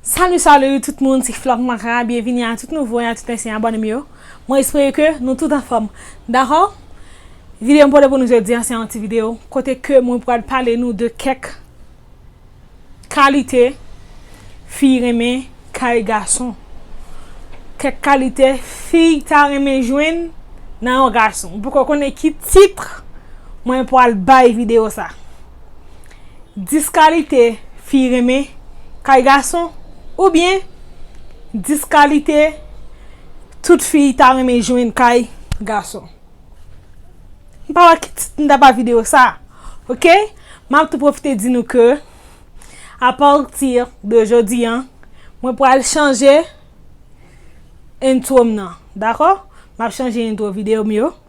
Salut salut tout moun se flòk mara byenvini a tout nouvo e a tout ansyen abòne m yo mwen espere ke nou tout anfòm dakò videyo m pote pou nou jodi an se yon ti videyo kote ke mwen pral pale nou de kèk kalite fi renmen kay gason kèk kalite fi ta renmen jwenn nan yon gason m poko konnen ki titre mwen pral bay videyo sa. 10 kalite fi renmen kay gason oubyen 10 kalite tout fi ta renmen jwenn kay gason. M pa wè ki tit m ta ba videyo sa a. Ok, m ap tou pwofite di nou ke a pati de jodi an, mwen pral chanje entwo m nan. Dakò? M ap chanje entwo videyo m yo.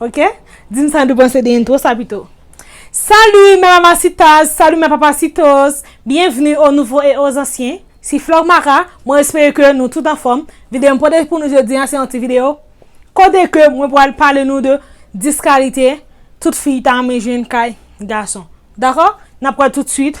Ok Dim sa nou panse de intro sa pito Salut mes mamacitas Salut mes papacitos Bienvenue aux nouveaux et aux anciens Si Flore Mara Mwen espere ke nou tout anfòm Videyo mwen pote pou nou jodi an se yon ti videyo Kote ke mwen pral pale nou de 10 kalite tout fi ta renmen jwenn kay gason Dakò Nap wè tout swit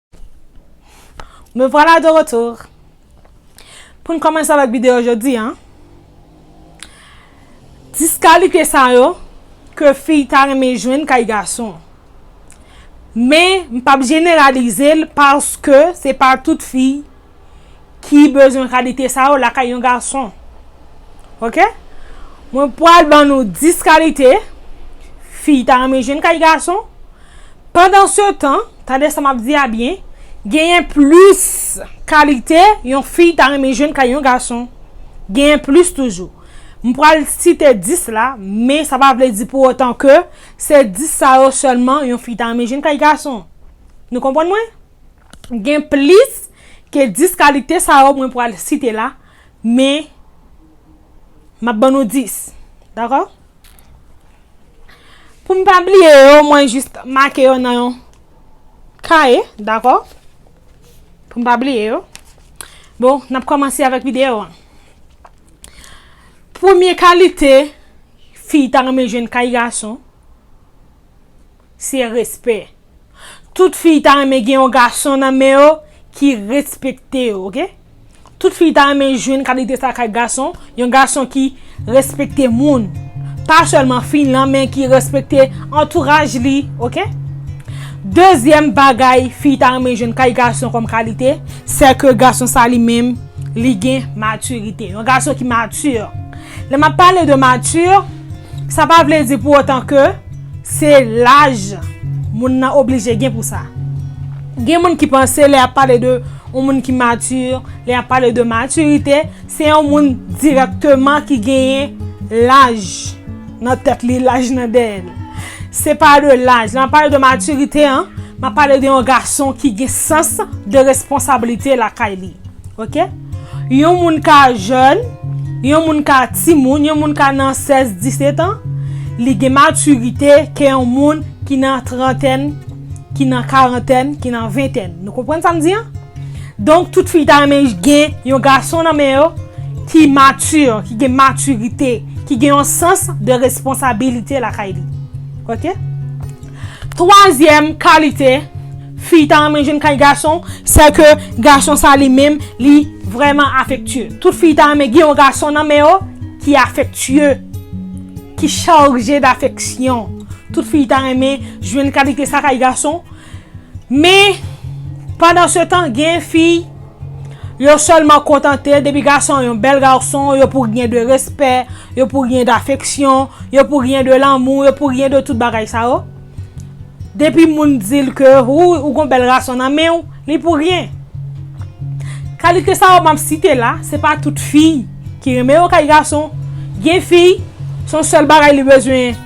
Me vwala de retour Pou n kòmanse avèk videyo jodi an Dis kalite sa yo Ke fi ta renmen jwenn kay gason Men m pap jeneralize l Paske se pa tout fi ki bezwen kalite sa yo lakay yon gason. Ok? Mwen pwal ban nou 10 kalite fi ta renmen jwenn kay gason. Pandan se tan, tande sa map di a byen, genyen plis kalite yon fi ta renmen jwenn kay yon gason. Genyen plis toujou. Mwen pwal site 10 la, men sa pa vle di pou otan ke se 10 sa yo selman yon fi ta renmen jwenn kay gason. Nou konpwann mwen? Gen plis ke 10 kalite sa yo mwen pwal site la, men map ban nou 10. Dakò? Pou m pa bliye yo, mwen jis make yo nan yon kaye, dakò? Pou m pa bliye yo. Bon, nap kòmanse avèk videyo an. Premye kalite fi ta renmen jwenn kay gason. Se respè. Tout fiy ta renmen gen yon gason nan men yo ki respekte yo ok. Tout fiy ta renmen jwenn kalite sa kay gason, yon gason ki respekte moun. Pa sèlman fiy lan men ki respekte antouraj li ok. Dezyèm bagay fiy ta renmen jwenn kay gason kòm kalite, sè ke gason sa li menm li gen matirite. Yon gason ki matir. Lè map pale de matir, sa pa vle di pou otan ke. Se laj moun nan oblije gen pou sa. Gen moun ki panse lè y ap pale de yon moun ki matir, lè y ap pale de matirite, se yon moun dirèkteman ki genyen laj nan tèt li, laj nan dèyè l. Se pa de laj. Lè m ap pale de matirite an, m ap pale de yon gason ki gen sans de responsablite lakay li. Ok Yon moun ka jèn Yon moun ka ti moun Yon moun ka nan 16, 17 an Li gen matirite ke yon moun ki nan trantèn Ki nan karantèn Ki nan ventèn Nou konprann sa m di an? Donk tout fi ta renmen gen yon gason nan men yo Ki matir Ki gen matirite Ki gen yon sans de responsabilite lakay li Ok Twazyèm kalite Fi ta renmen jwenn kay gason, sè ke gason sa li menm li vrèman afektye. Tout fi ta renmen gen yon gason nan men yo ki afektye, ki charje dafeksyon. Tout fi ta renmen jwenn kalite sa kay gason. Men, pandan se tan, gen fi, yo sèlman kontante depi gason an yon bèl gason, yo pou gen de respè, yo pou gen dafeksyon, yo pou gen de lanmou, yo pou gen de tout bagay sa yo. Depi moun dil ke wouy ou gon bèl rason nan menw li pou ryen. Kalite sa yo map site la se pa tout fiy ki renmen yo kay gason, gen fiy son sèl bagay li bezwen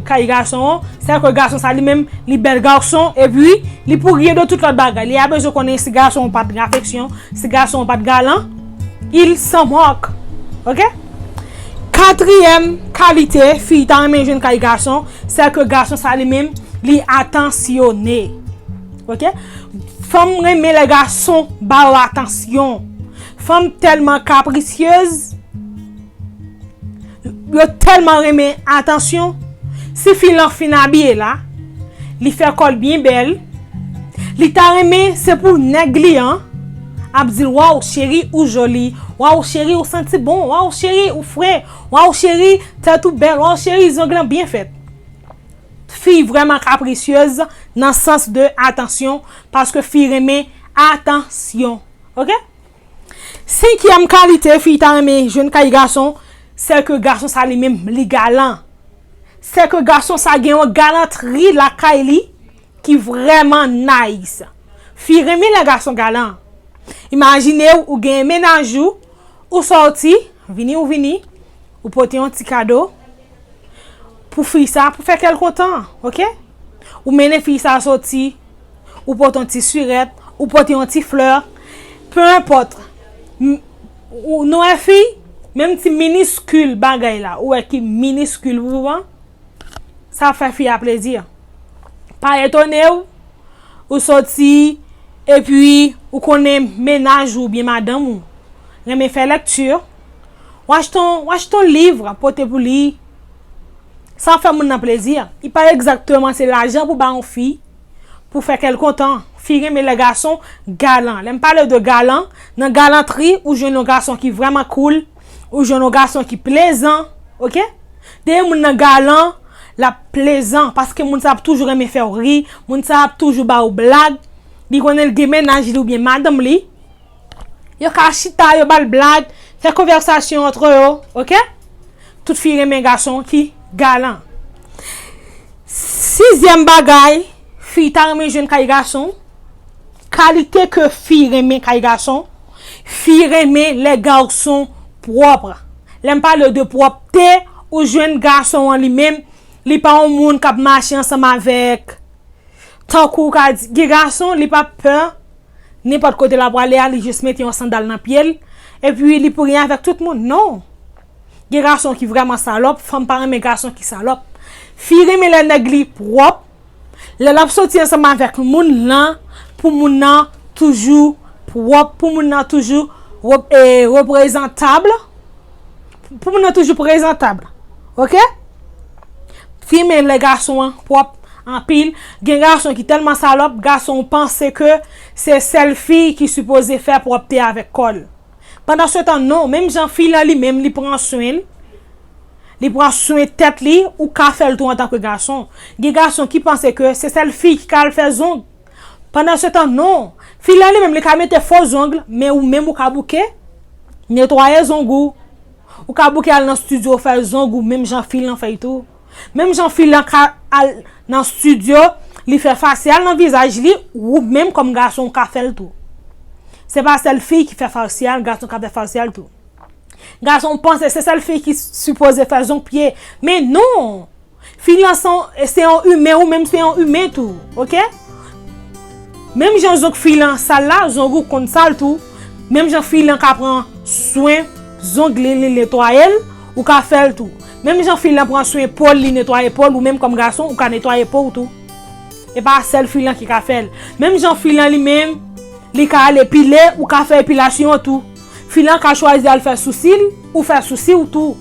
kay gason an, se ke gason sa li menm li bèl garson epi li pou ryen de tout lòt bagay li a bezwen konnen si gason an pat gen afeksyon, si gason an pat galan il s'en moque ok. Katriyèm kalite fiy ta renmen jwenn kay gason. Sè ke gason sa li menm li atansyone. Ok. Fanm renmen lè gason ba yo atansyon. Fanm tèlman kaprisyez. Yo tèlman renmen atansyon. Si fi lan fin abiye la. Li fè kòl byen bèl. Li ta renmen se pou nèg li an. Ap dil waw cheri ou joli. Waw cheri ou santi bon. Waw cheri ou fre. Waw cheri tèt ou bèl. Waw cheri zong lan byen fèt. Fi vrèman kaprisyez nan sans de atansyon paske fi renmen atansyon ok. Senkyèm kalite fi ta renmen jwenn kay gason sèke gason sa li menm li galan. Sèke gason sa gen yon galantri lakay li ki vrèman nice. Fi renmen lè gason galan. Imajine ou genyen menaj ou. Ou sòti, vini ou vini, ou pote yon ti kado pou fi sa pou fè kèl kontan, ok? Ou mennen fi sa sòti, ou pote yon ti sirèt, ou pote yon ti flè, peu enpòt, nou wè fi, menm ti miniskil bagay la, ou wè ki miniskil pou ou an, sa ap fè fi a plezi. Pa etone ou. Ou soti, epi ou konnen mennaj ou oubyen madanm ou renmen fè lekti, w achte yon liv pote pou li, sa ap fè moun nan plezi. E pa egzakteman se lajan pou ba yon fi pou fè kè l kontan. Fi renmen lè gason galan. Lè m pale de galan, nan galantri ou jwenn yon gason ki vrèman koul. Ou jwenn yon gason ki plezan ok dèyè moun nan galan lap plezan paske moun sa ap toujou renmen fèw ri moun sa ap toujou ba ou blag li konnen li gen mennaj li oubyen madanm li yo ka chita yo bal blag fè konvèsasyon antre yo ok tout fi renmen gason ki galan sizyèm bagay fi ta renmen jwenn kay gason Kalite ke fi renmen kay gason, Fi renmen lè garson pwòpr. Lè m pale w de pwòpte, ou jwenn gason an li menm, li pa yon moun k ap mache ansanm avèk tankou w ka di, gen gason li pa pè nenpòt kote l ap prale a, li jis mete yon sandal nan pye l, epi li pou gen avèk tout moun. Non! Gen gason ki vrèman salòp, fanm pa renmen gason ki salòp. Fi renmen lè nèg li pwòp. Lè lap soti ansanm avèk moun lan pou moun lan toujou pwòp, pou moun lan toujou reprezantab, pou moun lan toujou prezantab. Ok? Fi men lè gason an pwòp anpil, gen gason ki tèlman salòp, gason panse ke se sèl fi ki sipoze fè pwòpte avèk kò l. Pandan se tan non, menm jan fi lan li menm li pran swen l. Li pran swen tèt li, ou ka fè l tou antan ke gason. Gen gason ki panse ke se sèl fi ki ka al fè zong. Pandan se tan non. Fi la li menm li ka mete fo zong, men ou menm ou ka bouke, netwaye zong ou. Ou ka bouke al nan studio fè zong ou menm jan fi lan fè l tou. Menm jan fi lan ka al nan studio, li fè fasyal nan vizaj li, ou menm kòm gason ou ka fè l tou. Se pa sèl fi ki fè fasyal, gason ka fè fasyal tou. Gason panse se sèl fi ki sipoze fè zonk pye men non Fi lan se yon imen ou menm se yon imen tou ok Menm jan zonk fi lan sal la zong ou konn sal tou Menm jan fi lan ka pran swen zong li li netwaye l ou ka fè l tou Menm jan fi lan pran swen po l li netwaye po l ou menm kòm gason ou ka netwaye po w tou E pa sèl fi lan ki ka fè l Menm jan fi lan li menm li ka al epile ou ka fè epilasyon tou. Fi lan ka chwazi al fè sousi l, ou fè sousi w tou.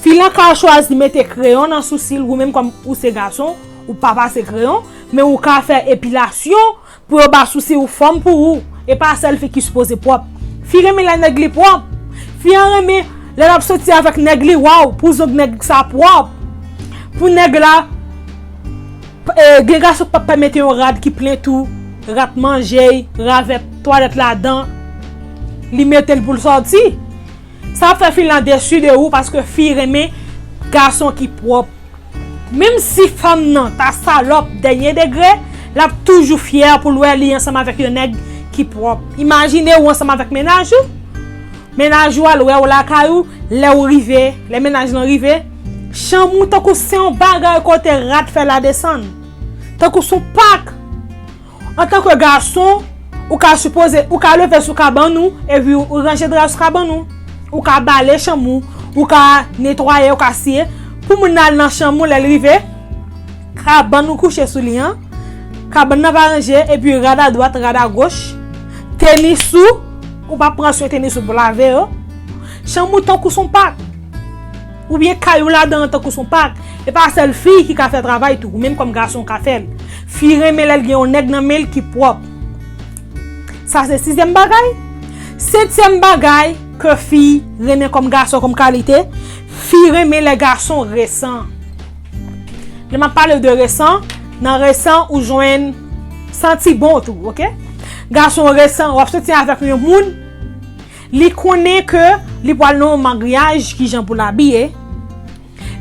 Fi lan ka chwazi mete kreyon nan sousi l, ou menm kòm ou se gason, ou pa pase kreyon, men ou ka fè epilasyon pou yo ba sousi w fòm pou ou. E pa sèl fi ki sipoze pwòp. Fi renmen lè nèg li pwòp. Fi an renmen lè l ap soti avèk nèg li, waw pou zong nèg sa pwòp, pou nèg la. Gen gason ki p ap pèmete yon rad ki plen tou, rat manje y, ravèt twalèt ladan, li mete l pou l sòti. Sa ap fè fi lan desu de ou paske fi renmen gason ki pwòp. Menm si fanm nan ta salòp dènye degre, l ap toujou fyè pou l wè li ansanm avèk yon nèg ki pwòp. Imajine ou ansanm avèk mennaj ou. Mennaj ou al wè ou lakay ou, lè ou rive, lè mennaj lan rive, chanm ou tankou se yon bagay kote rat fè ladesann. Tankou se yon pak. Antanke gason, ou ka sipoze, ou ka leve sou kabann ou, epi ou ranje dra sou kabann ou. Ou ka bale chanm ou, ou ka netwaye, ou ka siye. Pou moun nan al nan chanm ou lè l rive. Kabann ou kouche sou li an, kabann nan pa ranje, epi rad a dwat, rad a goch, tenis ou, ou pa pran swen tenis ou pou lave yo, chanm ou tankou son pak, oubyen kay ou ladan an tankou son pak, e pa sèl fi ki ka fè travay tou, ou menm kòm gason ou ka fè l. Fi renmen lè l gen yon nèg nan men l ki pwòp. Sa se sizyèm bagay. Setyèm bagay ke fi renmen kòm gason kòm kalite, fi renmen lè gason resan. Lè map palew de resan, nan resan ou jwenn santi bon tou, ok? Gason resan, wap soti avèk yon moun, li konnen ke li pwal nan yon magriyaj ki jan pou labiye,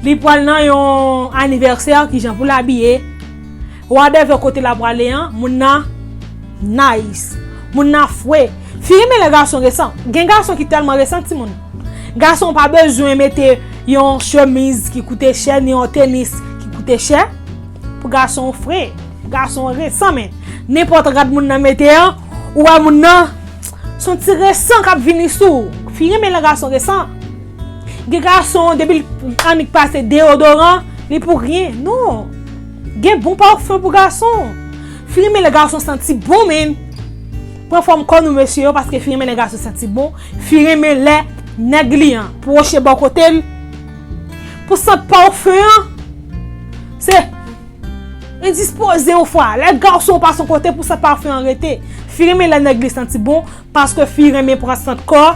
li pwal nan yon anivèsè ki jan pou labiye, Wadèvè kote la prale an moun nan nice moun nan fre fi renmen lè gason resan gen gason ki tèlman resan timoun gason pa bezwen mete yon chemiz ki koute chè ni yon tenis ki koute chè pou gason fre gason resan men nenpòt rad moun nan mete an ou wè moun nan son ti resan kap vini sou ou fi renmen lè gason resan gen gason depi l annik pase deyodoran li pou ryen non. Gen bon parfum pou gason. Filme lè gason santi bon menn. Pran fòm kò nou mesye yo paske filme lè gason santi bon, filme lè nèg li an pwoche bò kote l pou sant parfum an se endispoze ou fwa lè gason pase yon kote pou sant parfum an rete. Filme lè nèg li santi bon. Paske fi renmen pran sant kò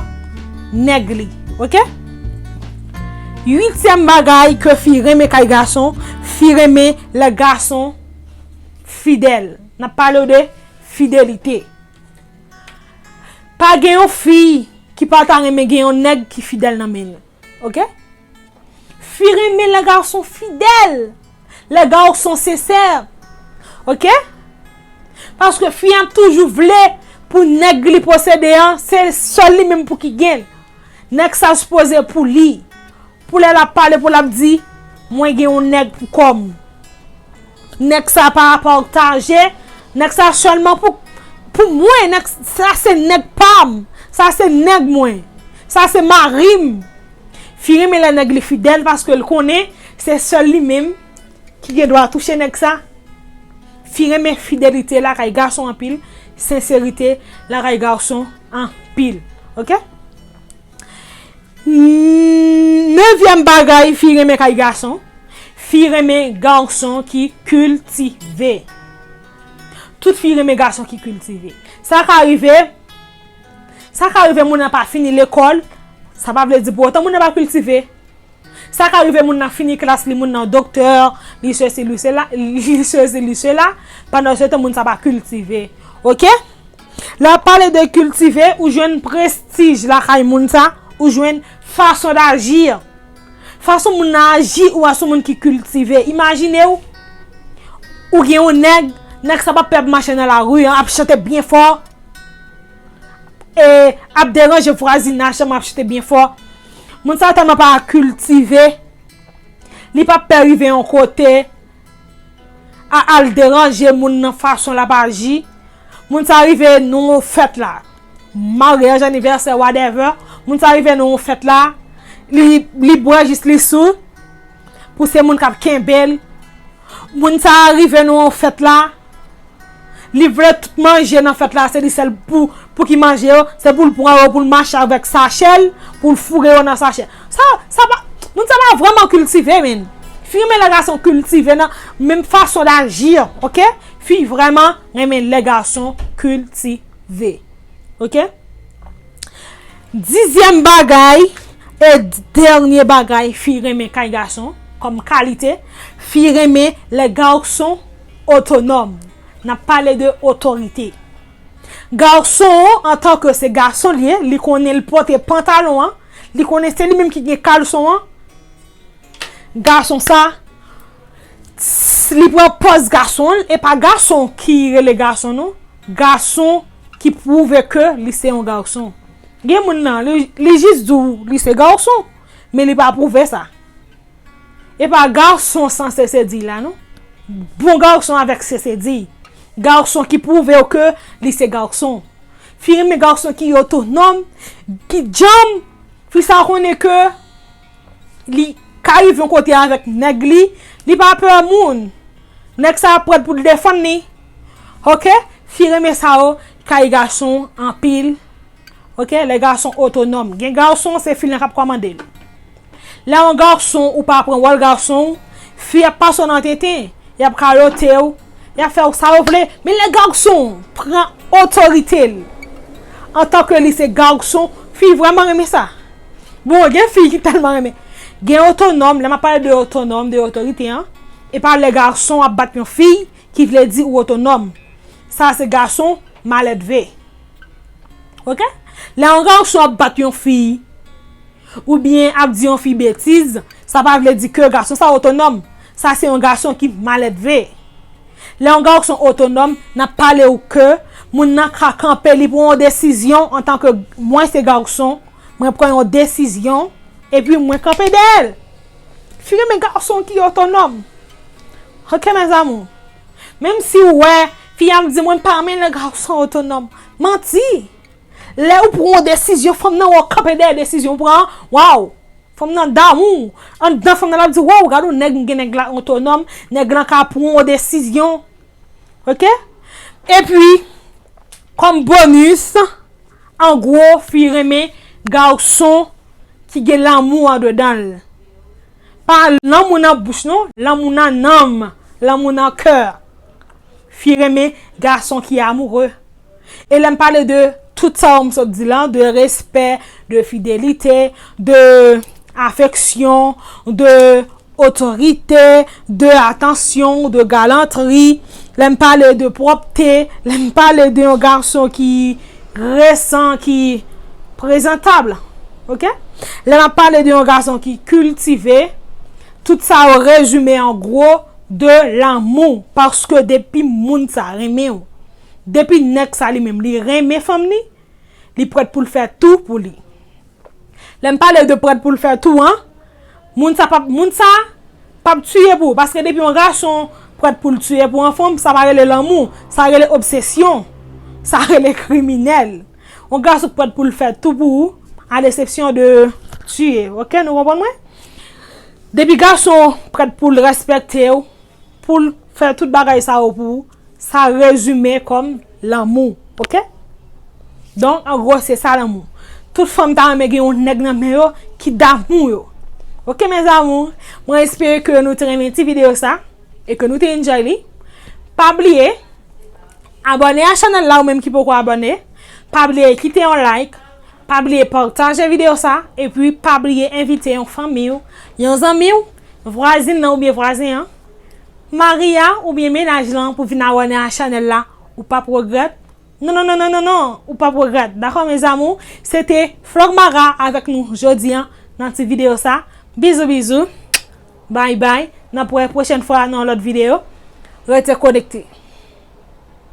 nèg li ok. Uityèm bagay ke fi renmen kay gason, fi renmen lè gason fidèl. Nap palew de fidelite. Pa gen yon fi ki pa ta renmen gen yon nèg ki fidèl nan menl. Ok Fi renmen lè gason fidèl Lè gason sensè Ok Paske fi an toujou vle Pou nèg li posede an Se sèl li menm pou ki gen l Nèg sa sipoze pou li Pou lè l ap pale pou l ap di Mwen gen yon nèg pou kò m Nèg sa pa aportaje, nèg sa sèlman pou pou mwen, nèg sa se nèg pam, sa se nèg mwen, sa se marim. Fi renmen lè nèg li fidèl paske l konnen se sèl li menm ki gen dwa touche nèg sa. Fi renmen fidelite lakay gason anpil, senserite lakay gason anpil. Ok. Nevyèm bagay, fi renmen kay gason, fi renmen gason ki kiltive. Tout fi renmen gason ki kiltive. Sa ka rive, sa ka rive moun nan pa fini lekòl, sa pa vle di pou otan moun nan pa kiltive. Sa ka rive moun nan fini klas li, moun nan doktè, li sesi, li sela, li sesi, li sela, pandan se tan moun sa pa kiltive. Ok? Lè ap pale de kiltive, ou jwenn prestij lakay moun sa, ou jwenn fason dajir. Fason moun nan aji ou wè son moun ki kiltive. Imajine ou, ou gen yon nèg, nèg sa pa pè ap mache nan lari an, ap chante byen fò, e ap deranje vwazinaj tèlman ap chante byen fò. Moun sa tèlman pa kiltive, li pa pè rive yon kote. Ah al deranje moun nan fason lap aji moun sa rive nan yon fèt la maryaj anivèsè whatever moun sa rive nan yon fèt la li bwè jis li sou pou se moun kap kenbel moun sa rive nan yon fèt la Li vle tout manje nan fèt la se li sèl pou ki manje yo, se pou l pran yo pou l mache avèk sachè l, pou l foure yo nan sachè. Sa, sa pa, moun sa pa vrèman kiltive menn. Fi renmen lè gason kiltive nan menm fason daji an, ok. Fi vrèman renmen lè gason kiltive. Ok. Dizyèm bagay e dènye bagay fi renmen kay gason kòm kalite, fi renmen lè gason. Otonòm, N ap pale de otorite. Gason an, antan ke se gason l ye, li konnen l pote pantalon an, li konnen se li menm ki gen kalson an, gason sa, li pran pòz gason l, e pa gason ki rele gason non, gason ki pwouve ke li se yon gason. Gen moun nan, li jis di w li se gason, men li pa pwouve sa. E pa garçon san sesediy la non. Bon garçon avèk sesediy. Garçon ki pwouve w ke li se garçon. Fi renmen garçon ki otonòm, ki djanm. Fi sa a konnen ke li ka rive yon kote avèk nèg li. Li pa pè moun. Nèg sa a prèt pou l defann li. Ok? Fi renmen sa yo kay garçon anpil. Ok lè gason otonòm gen gason se fi lan kap kòmande l lè yon gason ou pa pran wòl gason w fi ap pase w nan tenten yap kayote w yap fè w sa yo vle men lè gason w pran otorite l antan ke li se gason fi vrèman renmen sa bon gen fi ki tèlman renmen gen otonòm lè map pale de otonòm de otorite an e pa lè gason ap bat yon fi ki vle di ou otonòm sa se gason maledve. Ok Lè yon gason ap bat yon fi Ou byen ap di yon fi betiz Sa pa vle di ke gason sa otonòm Sa se yon gason ki maledve Lè yon gason otonòm N ap pale ou ke Moun nan ka kanpe li pran yon desizyon Antan ke mwen se gason Mwen pran yon desizyon E pi mwen kanpe dèyè l Fi renmen gason ki otonòm Ok mes amour Menm si ou wè, fi a ap di mwen pa renmen lè gason otonòm. Manti! Lè ou pran yon desizyon, fanm nan wè ou kanpe dèyè desizyon ou pran an, waw! Fanm nan damou ou. Anndan fanm nan l ap di waw gad yon nèg m gen nèg la otonòm, nèg lan ka pran yon desizyon. Ok? Epi, kòm bonis, an gwo fi renmen gason ki gen lanmou andedan l. Pa lanmou nan bouch non, lanmou nan nanm, lanmou nan kè. Fi renmen gason ki amoureux. E lè m pale de tout sa yo m sot di lan, de respè, de fidelite, de afeksyon, de otorite, de atansyon, de galantri, lè m pale de pwòpte, lè m pale de yon gason ki. resan ki prezantab ok lè nap pale de yon gason ki kiltive tout sa yo rezime an gwo de lanmou paske depi moun sa renmen ou depi nèg sa li menm li renmen fanm li li prèt pou l fè tou pou li. Lèm pale de prèt poul fè tou an Moun sa pap moun sa Pap tiye pou ou paske depi yon gason Prèt poul tiye pou yon fanm sa pa rele lanmou sa rele obsesyon sa rele kriminèl yon gason k prèt poul fè tou pou ou a lesepsyon de tiye ok nou konprann mwen depi gason prèt poul respektew. Poul fè tout bagay sa yo pou ou sa rezime kòm lanmou ok donk an gwo se sa lanmou tout fanm ta renmen gen yon nèg nan men yo ki damou yo ok mes amours mwen espere ke nou te renmen ti video sa e ke nou te enjoy li pa bliye abòne a chanèl la ou menm ki poko abòne pa bliye kite yon like pa bliye pataje video sa e pi pa bliye envite yon fanmiw yon zanmiw Vwazin nan oubyen vwazen an. Mari a oubyen menaj lan pou vin awòne a chanèl la ou pap regrèt non non non non non ou pap regrèt dakò mes amours se te Flormara avèk nou jodi an nan ti video sa bizou bizou bay bay nap wè pwochèn fwa nan yon lòt video rete konekte.